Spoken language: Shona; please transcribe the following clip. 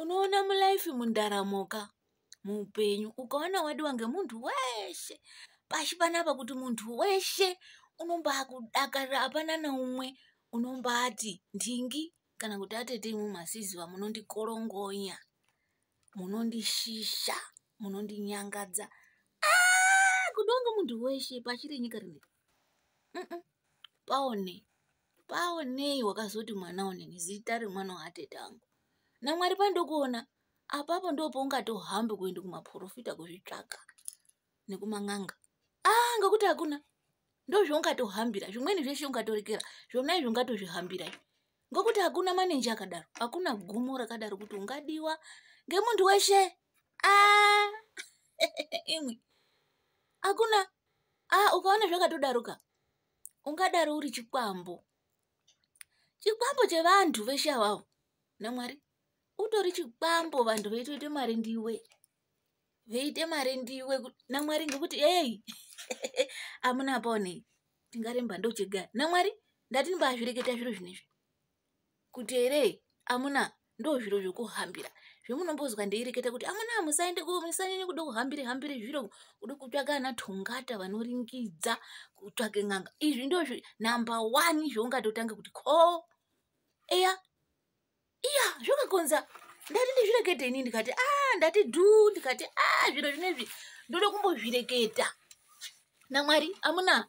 unoona mulife mundaramoka muupenyu ukaona wadiwa ngemunhu weshe pashi panapa kuti munhu weshe unombakudakarira hapana neumwe unombati ndingi kana kuti atete imwe masiziva munondikorongonya munondishisha munondinyangadza ah, kudonge munhu weshe pashi renyika rinei paone paonei wakazoti mwana one nezita remwana waatete angu namwari pandokuona apapo ndopoungatohambi kuenda kumaprofita kuzvitsvaka nekuman'anga ah ngekuti hakuna ndozvaungatohambira zvimweni zveshe ungatorekera zvona izvo ungatozvihambira ngokuti hakuna manenji akadaro hakuna gumo rakadaro kuti ungadiwa ngemunhu weshe ah, imwe hakuna ah ukaona zvakatodaroka ungadaro uri chikwambo chikwambo chevanhu veshe avavo namwari utori chikwambo vanhu veitoite mari ndiwe veite mari ndiwe namwari ngekuti eyi amuna paonei tingaremba ndochega namwari ndati ndimbazvireketa zviro zvinezvi kuti here amuna ndo zviro zvokuhambira zvemunombonzwa ndeireketa kuti amuna musaende musanyanye kuda kuhambire hambire zviro kuda kutsvaka ana tongata vanoringidza kutsvake n'anga izvi ndo number one zvoungatotanga kuti ko eya iya zvokakonza ndati ndizvirekete ini ndikati a ah, ndati du ndikati a ah, zviro zvinezvi ndoda kumbozvireketa namwari amuna